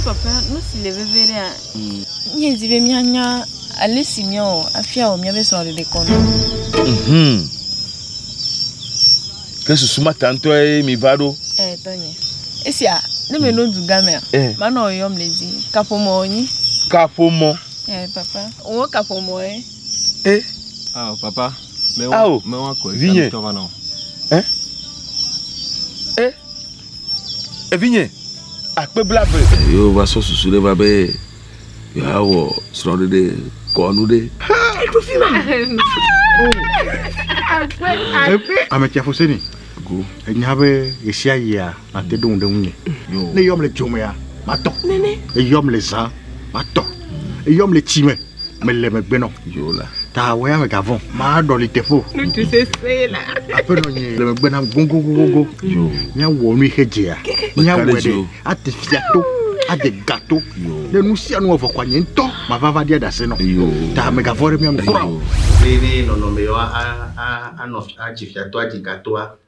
Papa, nu si le vevie ɖea, míedi be míanya ale si míawɔ afia wɔ míaƒe srɔ̃ɖeɖe kɔnu. Mhm. Ke susu ma ta ŋutɔe mi va ɖo. Ee, eh, tɔnye. Esia, ne menɔ mm. dugamea, eh. manɔ yɔm le dzi. Kaƒomɔ wònyi. Kaƒomɔ. Ee, eh, papa. Wò kaƒomɔ ye. E. Ao, papa. Mewɔ, mewɔ kɔe. Vinye. Eh? Evinye, akpe blaeve. Eye wova sɔ susu ɖe va be yewoawɔ srɔ̃ɖeɖe kɔnu ɖe. Ame tsia fose ni. Go. Enya be yesia yia nate ɖoŋu ɖe ŋunye. Ne yɔm le dzomea, matɔ. Nene. Ne yɔm le zã, matɔ. Eyɔm le tsi me, mele megbe nɔ. Yola. Ta wɔya me gavɔn, maa ɖɔli teƒe o. Ŋutsu sese la. Aƒenɔ nye le megbe nam gogogogogo. Yo. Nya wɔ nu ihe dzea. Nya wɔ ɖe ate fia to. Ade gato. Ne nu sia nu ɔvɔ kwa nye ŋutɔ mavava ɖia ɖase nɔ. Yo. Ta megavɔn ɖe mia ŋu kura o. Nenee nɔnɔme yewo anɔ adzi fiatɔa dzi gatoa.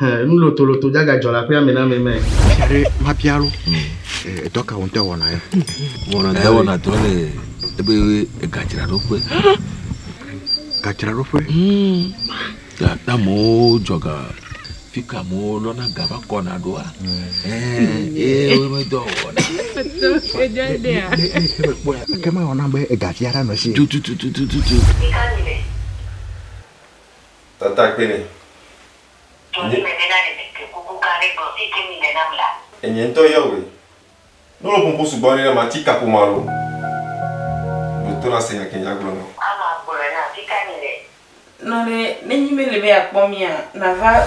Hẽ, nu lotoloto dzagadzɔ le aƒea me na ame mɛ. Fia ɖe mabia lo. Edɔ ka wonte wɔna ya? Wɔna dɔ wɔna dɔ le ebe egadzraɖoƒe. Gadzraɖoƒe. Ya na amewo dzɔga fi ka amewo lɔna ga va kɔna ɖoa. Ee wome dɔ wɔna. Ke mewɔna be egatia ɖa nɔ si. Tutututututu. Tata kpe nɛ. Tso nye me bena ne mete kuku gã ɖe gblɔ si ke mi le nam la. Enye ŋutɔ Yahweh. Nu lɔƒo ƒo sugbɔ aɖe na mati kaƒomɔ alo ɖo to nase nya ke nyagblɔ nɔ. Ama gblɔe na fi ka mi le. Nɔ ɖe nenyi mele be akpɔ mia nava.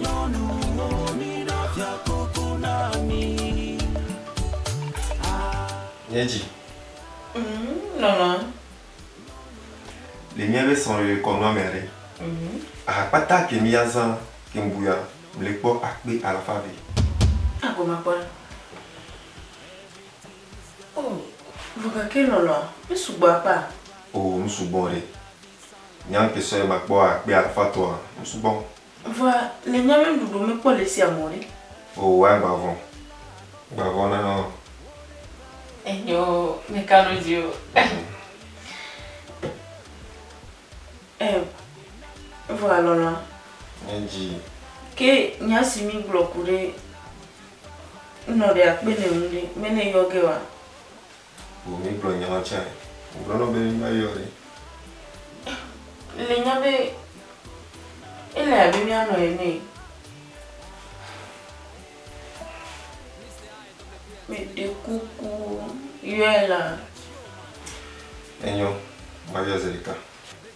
Nyɔnuwo, mina fiakuku na mí. Nye dzi. Umm nɔnɔa. Le míabe srɔ̃lele kɔnua mea ɖe, aha kpata ke míazã ke ŋbuya mli kpɔ akpe alafa eve. A goma kpɔa? Oh, vɔ gake nɔnɔa, mísugbɔ akpea? Oo, mísugbɔ ɖe. Nya ŋkɛ sɔɛ makpɔ akpe alafa tɔ a o sugbɔ. Vɔa le nya mɛ ɖuɖu me kpɔ le sia mɔ ɖe. O wa gba vɔ. Gba vɔ na ɔ. Enyo mi ka nu dzi o. E vɔ a lɔlɔa. Nye dzi. Ke nya si mi gblɔ ku ɖe ŋnɔ ɖe akpe nɛ ŋu ɖe mɛ ne yɔ ge wa. Vɔ mi gblɔ nya ma tsã. Wo gblɔ nɔ be mi ma yɔ ɖe. Le nya be ele abe mia nɔ ene. Me ɖe kuku yɔe la. Enyo, ma yɔ zeɖeka.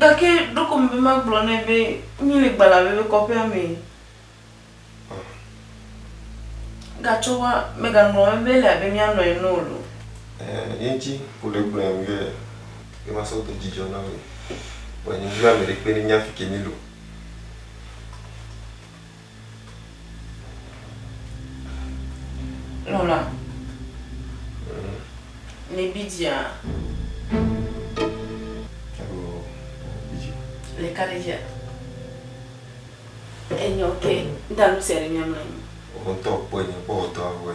Gake ɖeko mebe magblɔ nɛ be míele gbalẽavi be kɔƒea mee. Gatsɔ wa, megaŋlɔ wo be ele abe mía nɔ ene o lo. Eŋti wole gblɔe be ye va sɔ do dzidzɔ na mi. Vɔ nye ŋdi be ame ɖekpe ne nya fike mi lo. Lɔla, le bi dzia? Alo bi dzi. Le ka ɖe dzia? Enyɔ ke, ŋda nu sia ɖe mia mla anyi. Wotɔ kpɔe nye kpɔ wotɔ avɔe.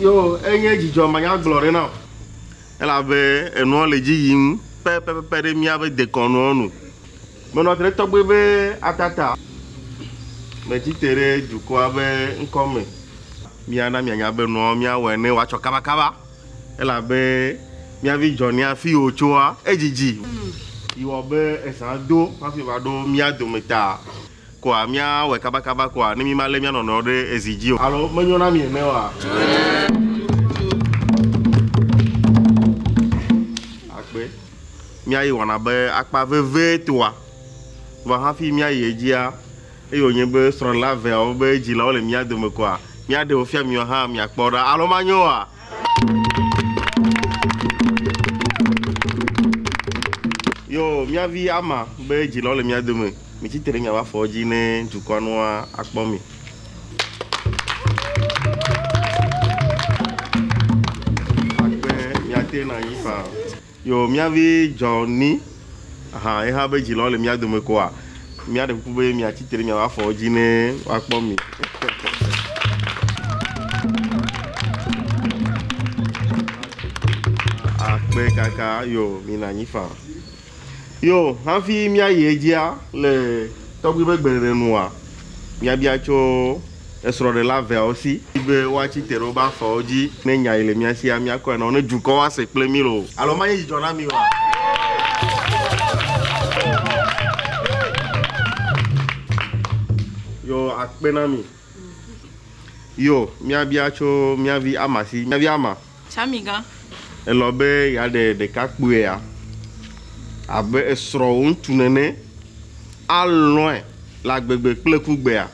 Yo, enye dzidzɔ manyagblɔ ɖe na o. Elabe enua le dzi yim pɛpɛpɛpɛ ɖe míaƒe dekɔnua nu. Menɔ te ɖe tɔgbe be Atata metsi te ɖe dukɔa ƒe ŋkɔ me. Míana mianya be nua míawɔe ne wòatsɔ kabakaba, elabe mía vi Johnny afi wòtsoa, edzidzi yi wɔ be ezã do hafi va ɖo mía dome ta. Koa mía wɔe kaba kaba koa ne mí ma lé mía nɔnɔewo ɖe ezi dzi o. Alo me nyo na mi ene oa? Akpe. Mía yi wɔna be akpa veve toa. Vɔ hafi mía yi edzia, eye wo nye be srɔ̃ɖela veawo be dzilawo le mía dome koa, mía ɖe wo fia miwo hã mia kpɔ ɖa. Alo ma nyo oa? Yo, mía vi ama be dzilawo le mía dome. Mitsi tre miaƒe afɔwo dzi ne dukɔa nu akpɔ mi. Akpe miate na yi fa. Yo mia vi Johnny hã eha be dzilɔ le mia dome koa mia ɖe kuku be mia tsi tre miaƒe afɔwo dzi ne woakpɔ mi. Akpe kaka yo mina nyi fa. Yo, hafi míayi edzia le tɔgbui ƒe gbeɖeɖe nua, míabia tso esrɔ̃ɖela eveawo si. Di be woatsi te ɖe woƒe afɔwo dzi ne nya yi le mía sia míakɔe na wo, ne dukɔwo ase kple mí loo. Alo manye dzidzɔ na mi oa? Yo, akpe na mi. Yo, míabia tso mía vi Ama si. Mía vi Ama, Samigã. Elɔ̃ be yeaɖe ɖekakpuia abe esrɔ̃ŋutsu nene, alɔ̃e le agbegbe kple kugbea?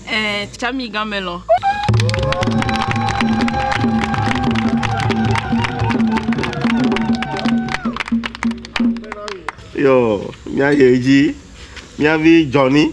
Ẽ, Samigã melɔ̃. Yoo, míayi edzi. Mía vi Johnny.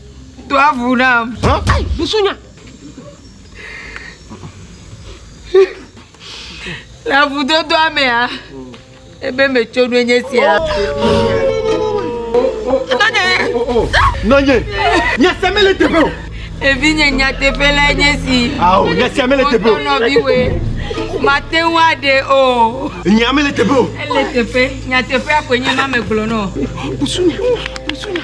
Do avu nam. Ai, busunya. Le avudodoa mea, ebe metso nu enye sia. Nanye. Nanye. Nyese mele teƒe o. Evi nye nyateƒe la enye si. Ao, nyese mele teƒe o. Nɔviwe. Mate ŋu aɖe o. Nya mele teƒe o. Ele teƒe. Nyateƒea koe nye ma megblɔ nɔ. Busunya. Busunya.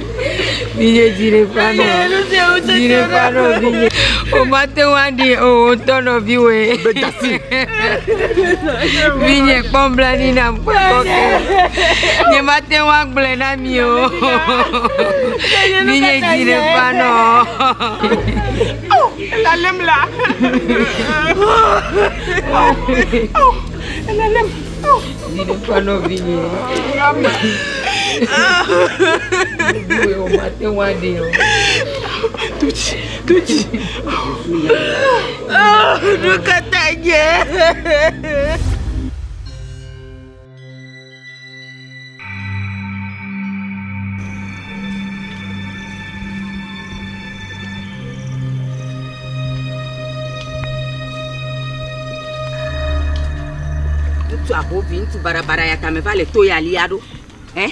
Vinye dzi ɖe ƒã nɔ. Dzi ɖe ƒã nɔ vinye. O ma te ŋu aɖi o o tɔ nɔ viwɔe. Vinye kpɔ nublanui nam kpɔ kɔ ke. Nye ma te ŋu agblɔe na mi o. Vinye dzi ɖe ƒã nɔ. Lalem la. Viɖe ƒe nɔvinye. Viɖe o mate ŋu aɖee o. Tutsi tutsi. Nu ka ta nye? ŋutsu aho vi ŋutsu barabara ya tame va le to ya lia ɖo ɛ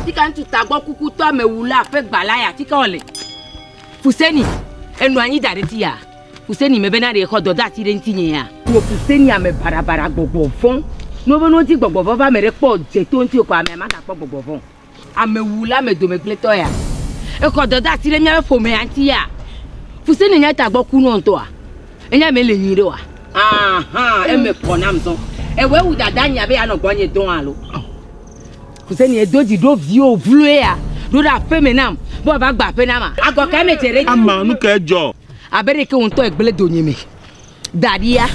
tika ŋutsu tagbɔ kukutɔ amewula ƒe gbala ya tika wòle fuseni enɔ anyi da ɖe ti ya Ku seni me bena ɖe xɔ dɔdeasi ɖe ŋutinyea? Wò ku seni ame baɖabaɖa gbɔgbɔ vɔ̃. Ne wobe nodi gbɔgbɔ vɔ̃ va ame ɖe kpɔ dze to ŋutiwò ko amea magakpɔ gbɔgbɔ vɔ̃ o. Amewula ame dome gblẽtɔ ya. Exɔ dɔdeasi ɖe míaƒe ƒomea ŋuti ya? Ku seni nye tagbɔ kunɔ ŋutɔa? Enye me le nyui ɖe oa? Aha, eme kɔ nam zɔ. Ewɔe wu dadanye abe yeanɔ gbɔnye dɔ̃ alo? Ku seni edo dzi ɖo viwò vloe ya. Ɖo ɖe aƒeme nam be wòava gbe aƒe nam a? Agɔ kae medze ɖe edzi? Ama, nu kae dzɔ? Abe ɖeke wò ŋutɔ ègblẽ donye me daɖia?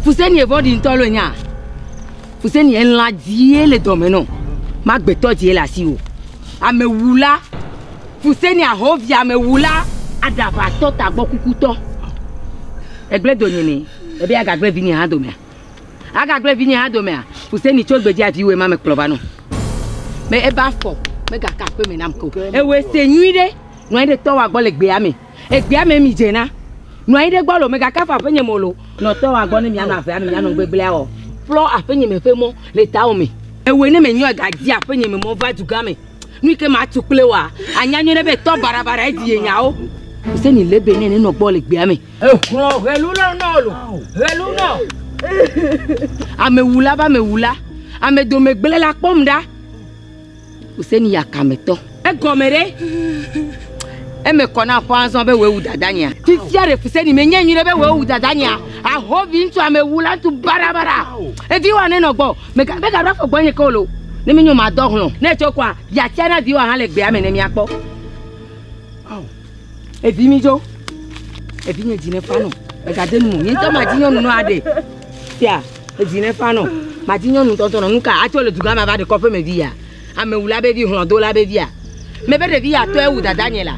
Fuseni evɔ̃ɖi ŋutɔ alo enya? Fuseni elã dzie le dɔme nɔ magbetɔ dzie le asiwò. Amewula, fuseni ahɔvi amewula, aɖaʋatɔ tagbɔkukutɔ. Ègblẽ donye me ebe agagblẽ vinye hã domea? Agagblẽ vinye hã domea? Fuseni tso gbedzia viwòe ma mekplɔ va nɔ. Be ebe afɔ megaka aƒeme nam ke o. Ewɔe se nyuiɖe. Nɔ anyi ɖe tɔwòa gbɔ le gbea me. Egbea me mi dze na. Nɔ anyi ɖe gbɔ lo. Megaka fɔ aƒenye me lo. Nɔ tɔwòa gbɔ ne mianɔ avea me mianɔ gbegblea wɔ. Ƒlɔ aƒenye me ƒe mɔ le tawò me. Ewɔe ne menyɔ ga dzi aƒenye me mɔ va dugã me. Nu yike matu kple woa, anya nyuie ɖe be tɔ baɖabaɖa edi ye nyawo. Mise ni lebe ne nenɔ gbɔ le gbea me. Ehlɔ helu lɔ nɔ lo. Helu nɔ. Amewula va mewula. Amedomegblẽla kpɔm ɖa. Hussein yakametɔ. Egɔme ɖe? Eme kɔ na aƒɔ azɔ be wòe wu dadanyea? Fifia ɖe Hussein menyae nyuiɖe be wòe wu dadanyea? Aho viŋutsu amewula tu barabara. Eviwoa nenɔ gbɔ. Mega, megaɖo afɔ gbɔnye ke o loo. Ne menyo madɔ hlɔ̃. Ne etso kɔa, yeatia na viwoa hã le gbea me ne míakpɔ. Ao, evi midzo. Evinye dzi nefa nɔ. Megade nu me o. Nye ŋutɔ madi nyɔnu nɔ aɖe. Fia. Edzi ne fa nɔ mati nyɔnu tɔntɔn nɔ nuka atsɔ le dugã ma va ɖekɔ ƒe me vi ya ame wula be vi hlɔdo la be via me be ɖevi ya tɔe wu dada nye la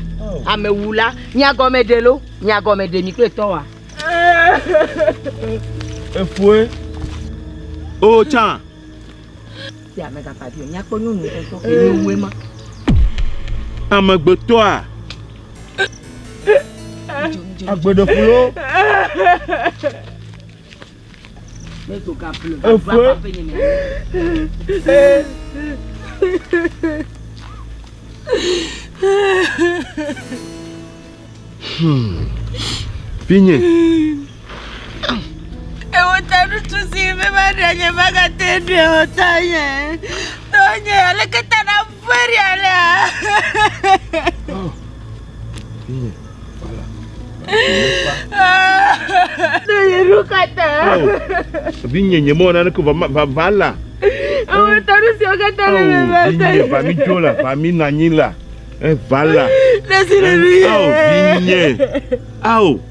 ame wula mia gɔme ɖe lo mia gɔme ɖe mi kple tɔ wa efoe o tsa ti ame ka pa vi mia kpɔ nyɔnu tɔntɔn ke ni wue ma ame gbetɔa agbeɖefulo Vinye. Ewo ta ɖutu si mi ma ɖe nye ma gate ɖe o ta nye. Tɔ nye aleke ta na. Vinye nye mɔ naneke va la. Ewe tanu si okata le me va ta. Vinye va mi dzo la, va mi nanyi la. Evala. Nesi le mi. Ao vinye. Ao.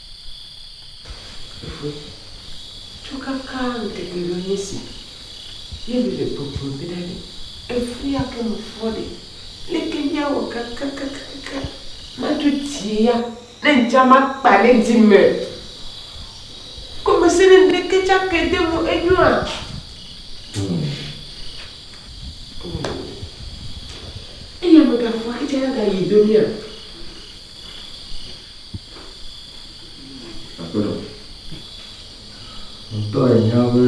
Fofo, tsɔ kaka ŋkeke lɔ nye si, ye mi le kpɔkplɔ be na ɖe efli ake me fɔ ɖe, leke mi awɔ kakakakaka ma dzo tie ya? Ne ŋtsa ma kpa ɖe dzi me, gɔme se ne ŋɖeke tsa ke de mo enyɔ a? Eye ame ga fɔ ke tsa ya ga yi do mi a? Ŋutɔ ènya be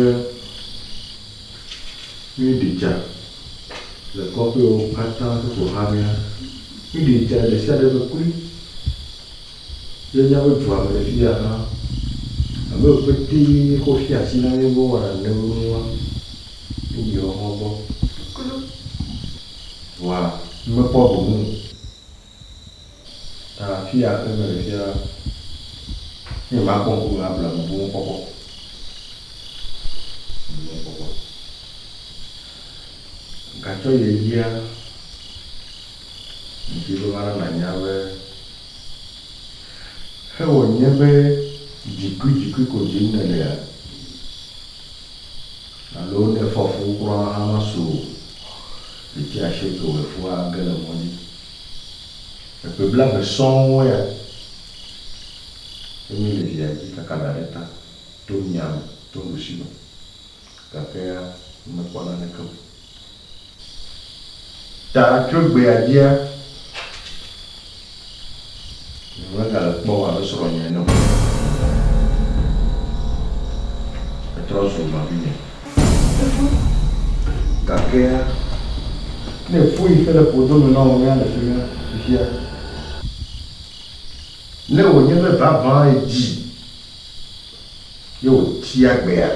míeɖi tsa le kɔƒewo katã ƒe ƒoxlãmea, míeɖi tsa ɖe sia ɖe ƒe kloe ye míaƒe dua me le afi ya hã abe ƒetee wokɔ fia asi na mí be wowɔ nane be nua, míyi woawo gbɔ kloe vɔa mímekpɔ gome o. Ta afi ya ke mele fia la, ne nyemakpɔ ŋku nu abla nu boŋ kpɔkpɔ. Boŋ kpɔkpɔ. Gatsɔ yi edzia, ŋdi be mana nànya be hewɔ nye be dzikuidzikui ko dim nèlea? Alo ne fɔfu kura hã masu o. Ɖevi Ashoto wɔ efua ge le mɔ dzi. Eƒe blaeve sɔŋ wɔ ya. Emi le via dzi kaka ɖa ɖe ta, to mia me, to nuɖusi me. Gake ya mekpɔ naneke o. Ta tso egbea dzia. Megale kpɔm abe srɔ̃nye ene o. Etrɔ zu nɔvinye. Gakea ne èƒu yi xe ɖe ƒodo me na wò mía le fimea fifia. Ne wònye be vavãe dzi ye wòtia gbea?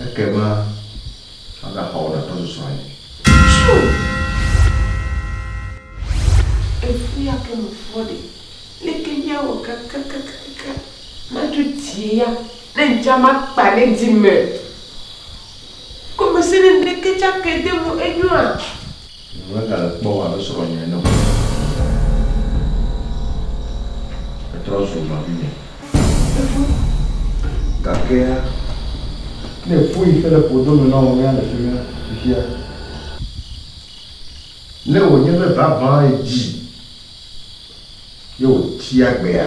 Ekema agaxɔ wò nàtɔ susɔ anyi. Tsu! Efu ya ke mefɔ ɖe? Leke míawɔ kakakakaka madzo die ya? Ne ŋdza makpa ɖe dzi me gɔmesese ɖeke tsɛ ake de mo enyɔa? Megale kpɔ wò abe srɔ̃nye ene o. Ètrɔ zu nɔvinye. Efue. Gake ne èƒu yi xe le ƒodo me na wò mía le fi mía fifia. Ne wònye be vavã èdi ye wòti agbea.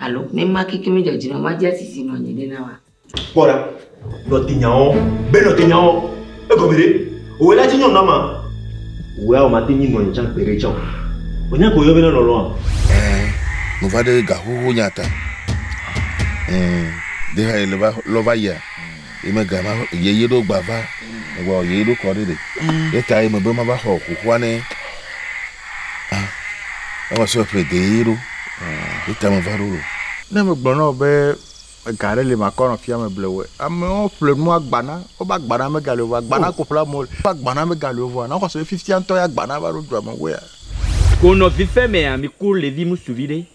Alo, ne ma keke mi dzɔdzi nɔ ma dja sisi nɔ nye ɖe na wa. Kpɔ ɖa, nɔtenyawɔ, be nɔtenyawɔ, egɔme ɖe? Wòwɔe la dzi nyɔnu ama. Wòwɔe awɔ mate ŋui nɔ nye tsã gbeɖe tsã o. Wò nya ke wòyɔ be na lɔlɔa? Ɛɛ, me va ɖe ga xoxo nya ta. Ɛɛ, ɖe ha ye le va lɔ va yia? Ye mega va ye ye ɖo gba va gba ye ɖo kɔ ɖe ɖe. Mm. Ye ta ye me be ma va xɔ kukua ne. Ah. Ewa so ple de ye ɖo. Ye ta me va ɖo lo. Ne me gblɔ na be ga ɖe le ma kɔ nɔ fia me ble we. Amewo ple nu agbana, wo ba gbana me ga le wa gbana oh. ko ple mo. Ba gbana me ga le wa na xɔ so fifia ntɔ ya gbana va ɖo dua me wea. Ko nɔ vife mea mi ku levi musuvi ɖe.